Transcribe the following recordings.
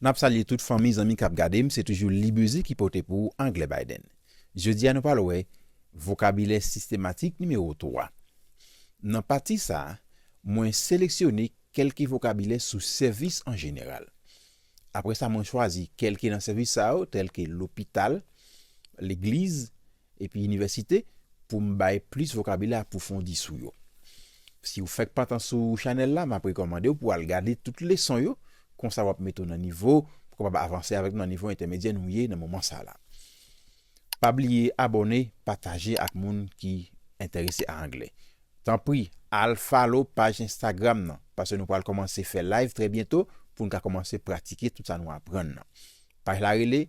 Nap salye tout fanmi zanmi kap gadem se toujou Libeuse ki pote pou ou anglè Biden. Jodi a nou pral wè vokabilè sistematik nimewo 3. Nan pati sa mwen seleksyone kelke vokabilè sou sèvis an jeneral. Apre sa mwen chwazi kelke nan sèvis sa yo tèlke lopital, legliz, Epi inivèsite pou m bay plis vokabilè apwofondi sou yo. Si ou fèk pantan sou chanèl la, m ap rekòmande w pou al gade tout leson yo, konsa w ap mete w nan nivo pou kapab avanse avèk m nan nivo entèmedyè nou ye nan moman sa la. Pa bliye abòne, pataje ak moun ki enterese a anglè. Tanpri al follow paj Instagram nan, paske nou pral kòmanse fè live trè byento pou n ka kòmanse pratike tout sa nou aprann nan. Paj la rele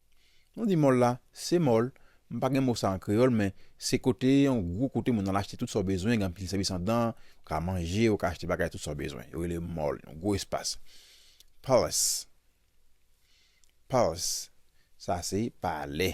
Nou di mòl la, se mòl, m pa gen mo sa an kreyòl men se kote, yon gwo kote moun al achte tout sa w bezwen, gen anpil sèvis anndan, ou ka manje, ou ka achte bagay tout sa w bezwen. Yo rele mòl, yon gwo espas. Palace, palace, sa se palè.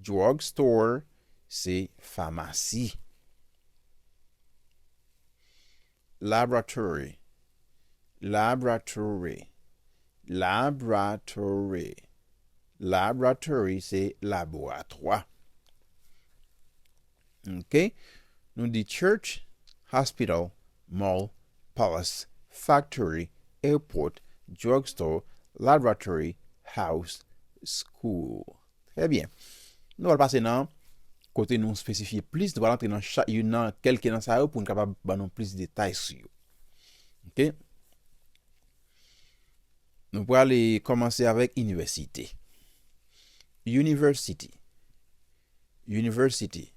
Drug store se famasi. Laboratory Laboratory Laboratory Laboratory se laboratwa. Ok Nou di church, hospital, mall, palace, factory, airport, drugstore, laboratory, house, school Trè byen Nou pral pase nan Kote nou spesifye plis Nou pral antre nan chak youn nan kelke nan sa yo pou n kapab ban nou plis detay sou yo Ok Nou prale kòmanse avèk inivèsite University. University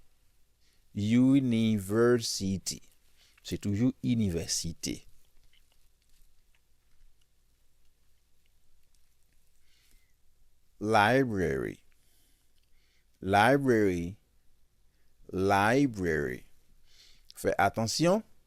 University Se toujou inivèsite. Library Library Library Fè atansyon!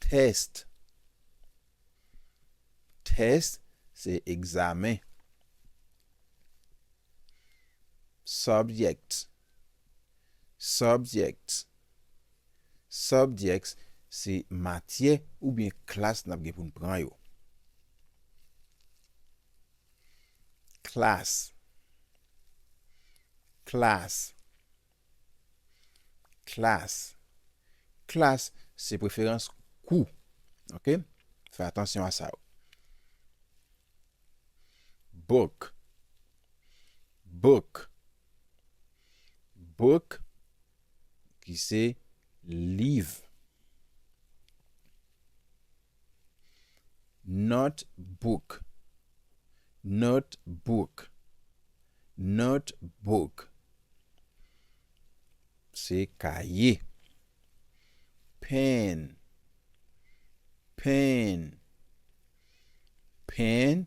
Test Test se egzamen. Subject Subject Subject se matyè oubyen klas n ap gen pou n pran yo. Class Class Klas. Klas se preferans kou. Ok? Fè atansyon a sa yo. Book. Book. Book ki se liv. Not book Not book Not book Se kaye Pen Pen Pen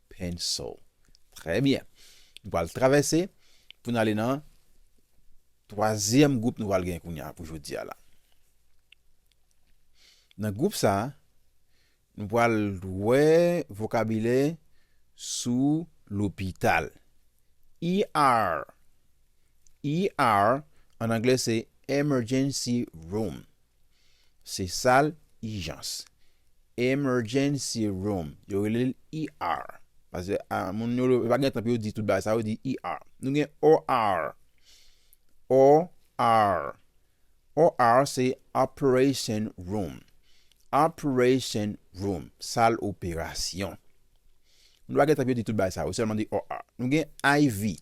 Pencil. Trè byen. Nou pral travèse pou n ale nan twazyèm gwoup nou pral gen kounye a pou jodi a la. Nan gwoup sa a, nou pral wè vokabilè sou lopital. ER, ER an anglè se emergency room. Se sal ijans, Emergency Room, yo rele l ER. Pase a moun yo yo pa gen tan pou yo di tout bagay sa yo di ER. Nou gen OR. OR. OR se Operation Room. Operation Room, sal operasyon. Moun yo pa gen tan pou yo di tout bagay sa yo, yo sèlman di OR. Nou gen IV.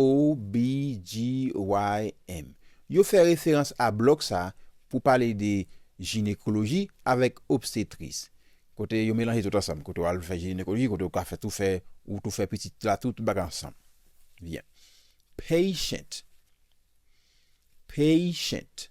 OBGYN yo fè referans a blòk sa pou pale de jinekoloji avèk obstetris kote yo melanje tout ansanm kote w al fè jinekoloji kote w ka fè tou fè ou tou fè pitit la tou tout bagay ansanm byen patient patient.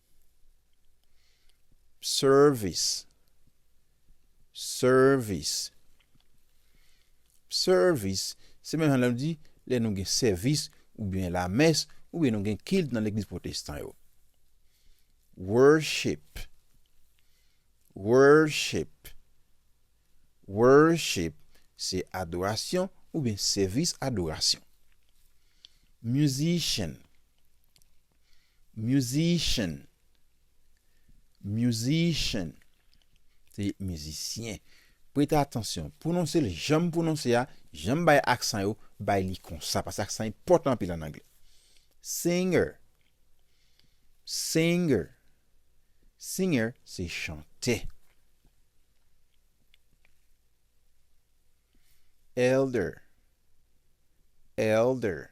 Service Service Service Se menm jan lè nou di lè nou gen sèvis oubyen lamès oubyen nou gen kilt nan legliz pwotestan yo. Worship Worship Worship Se adorasyon oubyen sèvis adorasyon. Musician Musician Musician Se mizisyen. Prete atansyon. Pwononse l jan m pwononse a, jan m bay aksan yo, bay li konsa. Paske aksan enpòtan anpil an angle. Singer Singer Singer se chantè. Elder Elder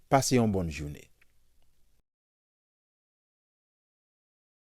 Pase yon bonn joune.